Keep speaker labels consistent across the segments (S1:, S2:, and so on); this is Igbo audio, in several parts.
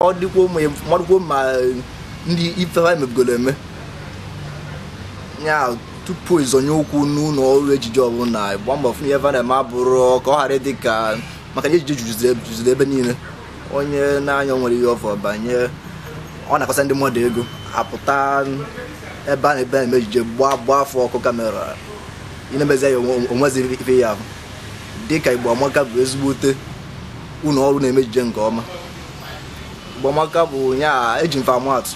S1: ọ dịkwa ụmụ ya marụkwo ma ndị ife ha emebugoro eme ya tupu ịzọnye ụkwụ n'ụlọ ọrụ ejije ọbụla gba mbọ fụ na ihe va na-eme abụrụ ka ọ ghara ịdị ka maka na ejije juziri ebe niile onye na-anya nwere ihe ọ fụ banye ọ nakọsa ndị mmadụ ego apụta ebe a na-ebe na-eme ejije gbaa gbaa fa ọkụ kamera ị na-emezi ya onwe- onweziri ife ya ahụ dịka igbo amaka bụ ezigbote ụlọ ọrụ na-eme ejije nke ọma igbo amaka bụ ya eji m fa ama atụ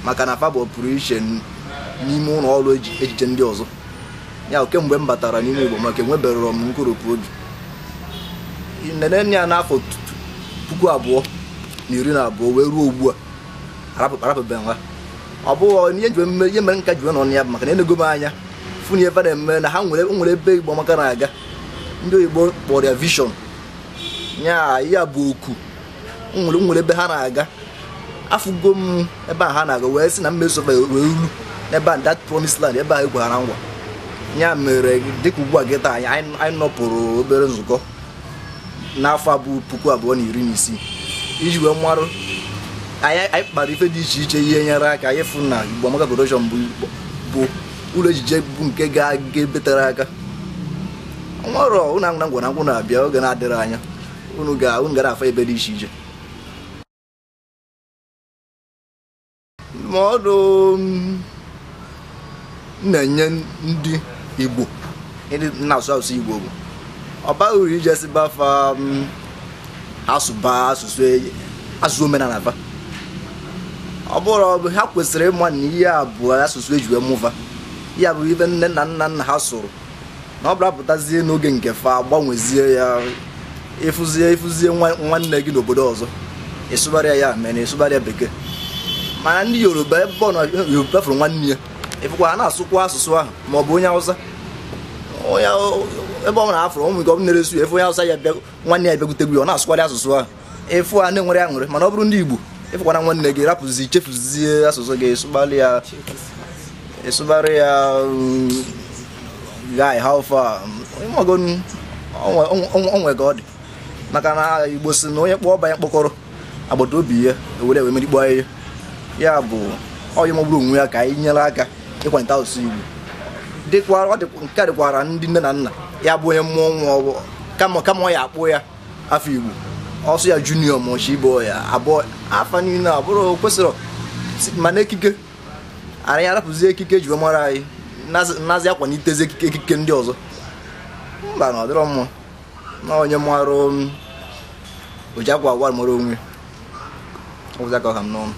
S1: maka na fa bụ pụrụ iche n- n'ime ụlọ ọrụ eji- ejije ndị ọzọ ya kemgbe m batara n'ime igbo amaka enweberọ m nkoropụ obi nene ya n'afọ tu- tu- puku abụọ na iri na abụọ wee ruo ugbu a arapụbeghị m ha ọ bụghị ihe m jiwe ihe mere m ka jiwe nọ na ya bụ maka na enego m anya fụ n'ife va na-eme na ha nwere nwere ebe igbo amaka na-aga ndị oyibo kpọrọ ya vision ya ya bụ okwu nwere nwere ebe ha na-aga afụgo m ebe a ha na-aga wee sị na m ya-eso fa wee ruo n'ebe a that promised land ebe a e kwere nkwa ya mere dịka ugbu a kịtaa anyị nọpụrụ obere nzukọ n'afọ a bụ puku abụọ na iri na isii iji wee marụ anyị anyị kpara ife dị iche iche ihe nyere aka anyị fụ na Igbo Amaka Production bụ Igbo- bụ ụlọ ejije bụ nke ga-aga ebe tere aka nwere ụnụ anwụ na ngwa na ngwụ na-abịa oge na-adịghị anya unu ga unu ga-anụ afa ebe dị iche iche ndụmọdụ m na-enye ndị igbo ndị na-asụ asụsụ igbo bụ ọ baghị uru ije sịba fa ha sụba asụsụ e- asụsụ omenala fa ọ bụrụ ọ bụ ha kwesịrị ịma na ihe a bụ asụsụ eji wee mụ va ya bụ ife nne na nna nna ha sụrụ na ọ bụrụ a pụtazie n'oge nke fa gbanwezie ya ị fụzie ị fụzie nwa- nwanne gị n'obodo ọzọ ị sụbara ya mere na ị sụbara ya bekee mana ndị yoruba ebe onye yoruba fụrụ nwanne ya ị fụkwa ha na-asụkwa asụsụ ahụ ma ọ bụ onye hausa onye ebe ọ bụla ọ fụrụ ụmụ nke ọ bụ na-ere suya efe onye hausa ya bịa nwanne ya bịakutekwa ya ọ na-asụkwarị asụsụ ahụ ị fụ ha na-enwere aṅụrị mana ọ bụrụ ndị Igbo ị fụkwana nwanne gị rapụzi chefuzie asụsụ gị sụbara ya ị sụbara ya mm, guy how far ị mago ọ nwe ka ọ dị maka na igbo si na onye kpọọ ọba ya mkpọkọrọ agbata obi ya ewere ewe merikpọ ya ya bụ onye magburu onwe ya ka anyị nyere aka ịkwalite asụsụ igbo dịkwara nke a dịkwara ndị nne na nna ya bụ onye mụọ nwa kama kama ọ ya-akpọ ya afọ igbo ọ sọ ya junior ma ọchị ibo ya abụọ afa niile abụrụ o kwesịrị mana ekike ara ya arapụzi ekike e ji wee mara anyị nazi- nazi akwalitezi ekike ekike ndị ọzọ mba na ọ dịrọ mma na onye mara um, oji akwa agwa mara onwe ọ bụzi aka ọha m n'ọnụ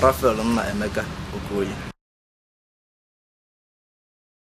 S1: rafael nnaemeka okoye